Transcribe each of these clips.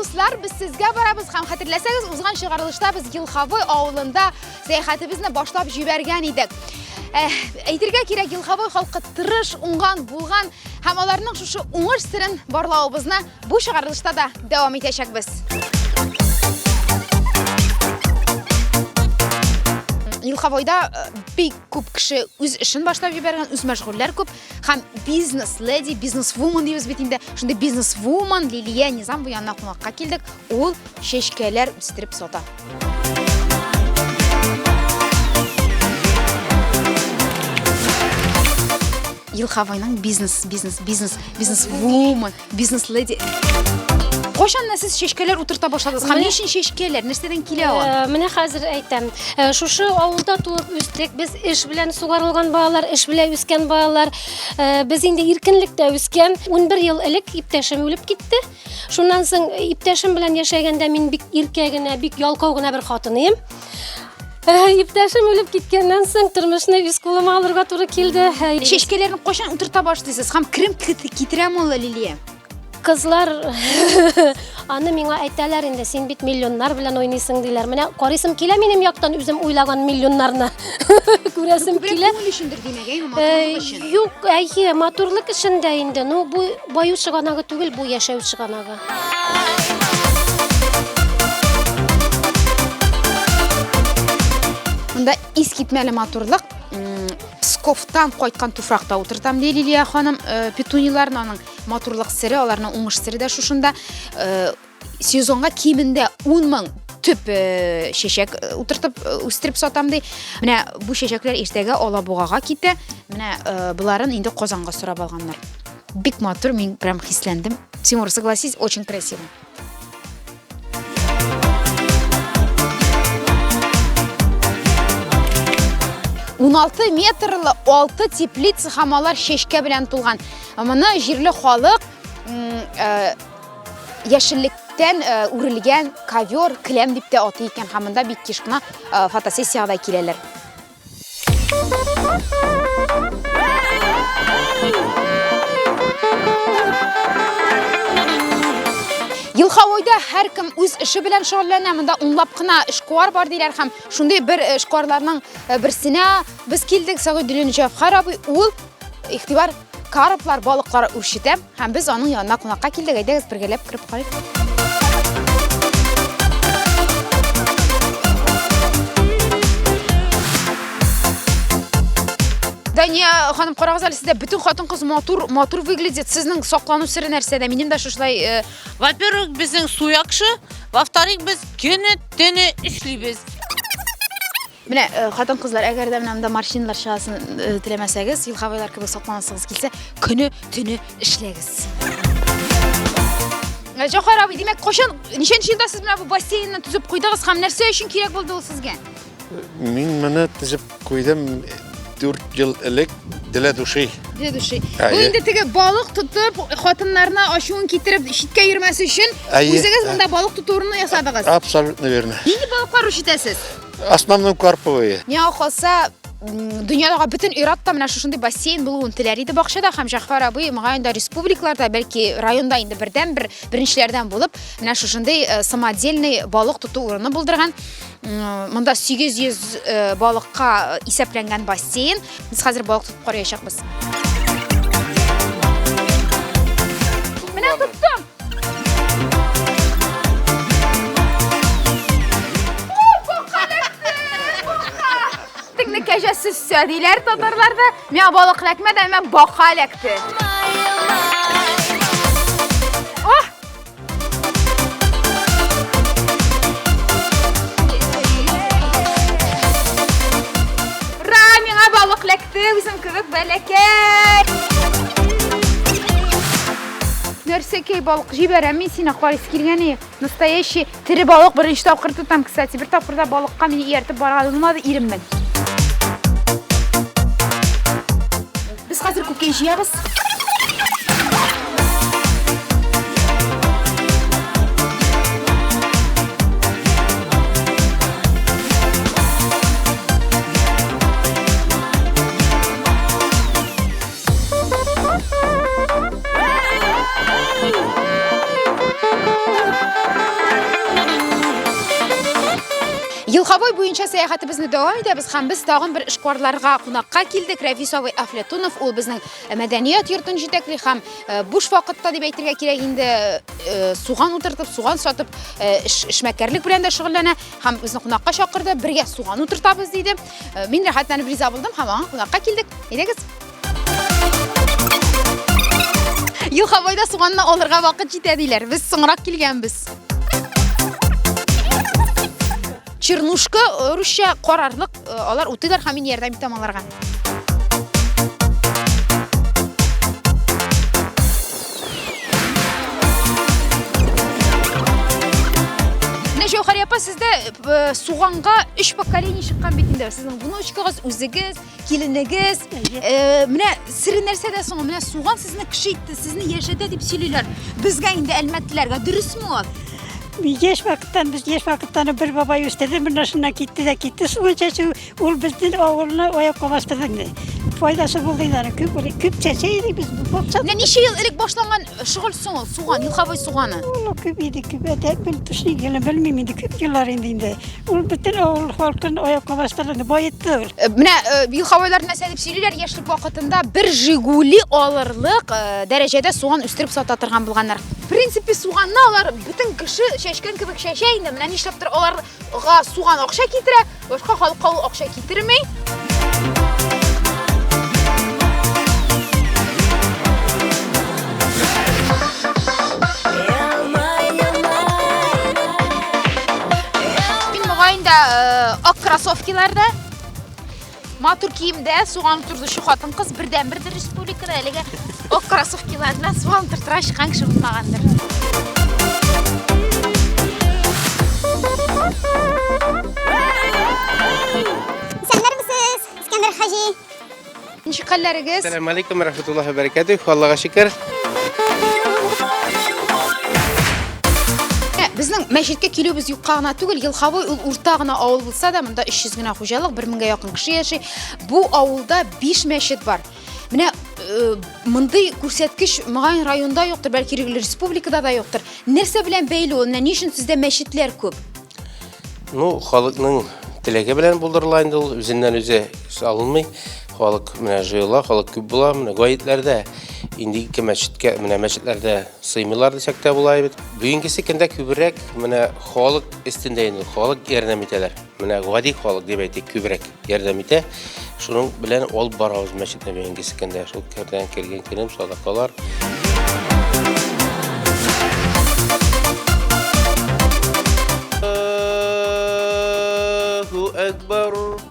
Дуслар, без сезгә барабыз һәм хәтерләсәгез, узган чыгарылышта без Елхавы авылында сәяхәтебезне башлап җибәргән идек. Э, әйтергә кирәк, Елхавы халкы тырыш, уңган, булган һәм аларның шушы уңыш серен барлавыбызны бу чыгарылышта да дәвам итәчәкбез. Елхавыда э, бик Күп кеше үз эшен башлап җибәргән, үз мәшгульләр күп һәм бизнес леди, бизнес вумен дибез бит инде. Шундый бизнес вумен Лилия Низам бу янына кунакка килдек. Ул чәчкәләр үстереп сата. Илхавайның бизнес, бизнес, бизнес, бизнес вумен. Бизнес леди. Кошанна сез шешкәләр утырта башладыгыз. Һәм нишин шешкәләр, нәрсәдән килә ул? Э, менә хәзер әйтәм. Э, шушы авылда туып үстек. Без эш белән сугарылган балалар, эш белән үскән балалар. Э, без инде иркенлектә үскән. 11 ел элек иптәшем үлеп китте. Шуннан соң иптәшем белән яшәгәндә мин бик иркә генә, бик ялкау гына бер хатын идем. Ә, Иптәшем үлеп киткәннән соң тормышны үз кулыма алырга туры килде. Ә, Чәчкәләрне кайчан утырта башлыйсыз һәм керем китерәме ул Лилия? Кызлар аны миңа әйтәләр инде, син бит миллионнар белән уйныйсың диләр. Менә карыйсым килә минем яктан үзем уйлаган миллионнарны. Күрәсем Күбрәк килә. күңел өчендер димәк, әйе, Э, матурлык өчен. Юк, әйе, матурлык эшендә инде. Ну, бу баю чыганагы түгел, бу яшәү чыганагы. Монда искитмәле матурлык Псковтан кайткан туфракта утыртам ди Лилия ханым. Э, Петуниларны аның матурлык сире, аларның уңыш сире дә шушында. Э, сезонга кимендә 10 мең төп э, чәчәк утыртып үстереп сатам ди. Менә бу чәчәкләр иртәгә Алабугага китә. Менә боларын инде Казанга сорап алганнар. Бик матур, мин прям хисләндем. Тимур, согласись, очень красиво. Уналты метрлы алты теплица һәм алар чәчкә белән тулган. Моны җирле халык э, яшеллек итектән э, үрелгән ковер, келәм дип тә атый икән һәм монда бик еш кына э, фотосессиягә дә киләләр. Елхавойда һәркем үз эше белән шөгыльләнә. Монда унлап кына эшкуар бар диләр һәм шундый бер эшкуарларның э, берсенә без килдек. Сәгыйдуллин Җәфхар абый ул Ихтибар, карплар, балыклар үрчетә һәм без аның янына кунакка килдек. Әйдәгез бергәләп кереп карыйк. Дания ханым карагыз әле сездә бөтен хатын кыз матур матур выглядит. Сезнең саклану сире нәрсәдә? Минем дә шушылай э, Во-первых, безнең су яхшы, во-вторых, без көне-төне эшлибез. Менә хатын-кызлар, әгәр дә менә монда морщинлар чыгасын теләмәсәгез, елхабайлар кебек сакланасыгыз килсә, көне төне эшләгез. Җохар абый, димәк, кошын ничәнче елда сез менә бу бассейнны төзеп куйдыгыз һәм нәрсә өчен кирәк булды ул сезгә? Мин моны төзеп куйдым 4 ел элек Дилә души. Дилә души. Бу инде теге балык тотып, хатыннарына ачуын китереп, читкә йөрмәсе өчен үзегез монда балык тоту урыны ясадыгыз. Абсолютно верно. Нинди балыклар үрчетәсез? Основной карповые. Миңа калса, дөньядагы бөтен иратта менә шушындый бассейн булуын теләр иде бакчада һәм Җәгъфәр абый мөгаен дә республикаларда, бәлки районда инде бердән бер беренчеләрдән булып, менә шушындый э, самодельный балык тоту урыны булдырган. Монда 800 э, балыкка исәпләнгән бассейн. Без хәзер балык тотып караячакбыз. Менә тоттым. Теңне кәҗә сөссә диләр татарларда. Миңа балык эләкмәде, әмма бака эләкте. Ох! Ра, миңа балык эләкте, үзем кебек бәләкәй. Нәрсәкәй балык җибәрәм мин сине карыйсы килгәне. Настоящий тере балык беренче тапкыр тотам, кстати. Бер тапкырда балыкка мине ияртеп барган булмады иреммен. Без хәзер күккә җыябыз. Елхавой буенча сәяхәтебезне дәвам итәбез һәм без тагын бер эшкуарларга кунакка килдек. Рәфис абый Афлетунов ул безнең э, мәдәният йортын җитәкли һәм э, буш вакытта дип әйтергә кирәк инде э, суган утыртып, суган сатып эшмәкәрлек белән дә шөгыльләнә һәм безне кунакка чакырды. Бергә суган утыртабыз диде. Э, мин рәхәтләнеп риза булдым һәм аңа кунакка килдек. Әйдәгез. Елхабайда суганны алырга вакыт җитә диләр. Без соңрак килгәнбез. Чернушка э, русча карарлык, э, алар утыйлар һәм мин ярдәм итәм аларга. Менә Җәүһәр апа сездә э, суганга өч поколение чыккан бит инде. Сезнең внучкагыз, үзегез, киленегез. Э, Менә сире нәрсәдә соң? Менә суган сезне кеше итте, сезне яшәтә дип сөйлиләр. Безгә инде әлмәтлеләргә дөресме ул? Еш вакыттан без еш вакыттан бер бабай үстерде, бер нәрсәне китте дә китте. Суган чәчү Ул безнең авылны аякка бастырды инде. Файдасы булды инде. Күп күп чәчә идек без. Бакса. Менә ничә ел элек башланган шөгыль соң ул суган, юхавый суганы. Ул күп иде, күп әтә бел төшли геле белмим инде күп еллар инде инде. Ул бөтен авыл халкын аякка бастырды, баетты ул. Э, менә э, юхавайлар нәрсә дип сөйлиләр, яшьлек вакытында бер Жигули алырлык э, дәрәҗәдә суган үстереп сата торган булганнар. В принципе, суганны алар бөтен кеше чәчкән кебек чәчә инде. Менә нишләптер алар Га суган акча китерә, башка халыкка ул акча китерми. Мин мөгаен дә э, ак кроссовкиларда Матур киемдә суган турзучы хатын-кыз бердәнбердер республикада әлегә ак кроссовкилар белән суган тортыра чыккан кеше булмагандыр. Исәннәрмесез, Искәндәр хаҗи? Ничек хәлләрегез? Сәлам алейкум, рәхмәтуллаһи ва баракатуһ. Аллага шөкер. Безнең мәчеткә килүебез юкка гына түгел, Елхавой ул урта гына авыл Сада монда 300 генә хуҗалык, 1000гә якын кеше яши. Бу авылда 5 мәчет бар. Менә э, мондый күрсәткеч моңа районда юктыр, бәлки республикада да юктыр. Нәрсә белән бәйле ул? Менә ни өчен сездә мәчетләр күп? Ну, халыкның теләге белән булдырыла инде ул, үзеннән үзе салынмый. Халык менә җыела, халык күп була, менә гаетләрдә инде ике мәчеткә, менә мәчетләрдә Сыймыйлар дисәк тә була бит. Бүгенгесе көндә күбрәк менә халык өстендә инде халык ярдәм итәләр. Менә гади халык дип әйтик күбрәк ярдәм итә. Шуның белән ол барабыз мәчетне бүгенгесе көндә. Шул кердән кергән көнем садакалар. Аллаһу Әкбар.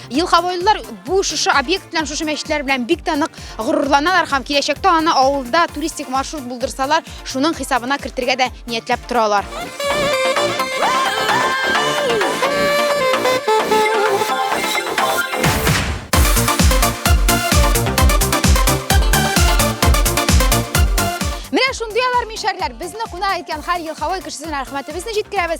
Елхавойлылар бу шушы объект белән, шушы мәчетләр белән бик тә нык горурланалар һәм киләчәктә аны авылда туристик маршрут булдырсалар, шуның хисабына кертергә дә ниятләп торалар. Менә шундый алар мишәрләр. Безне кунак иткән һәр ел һава кешесенә рәхмәтебезне җиткерәбез.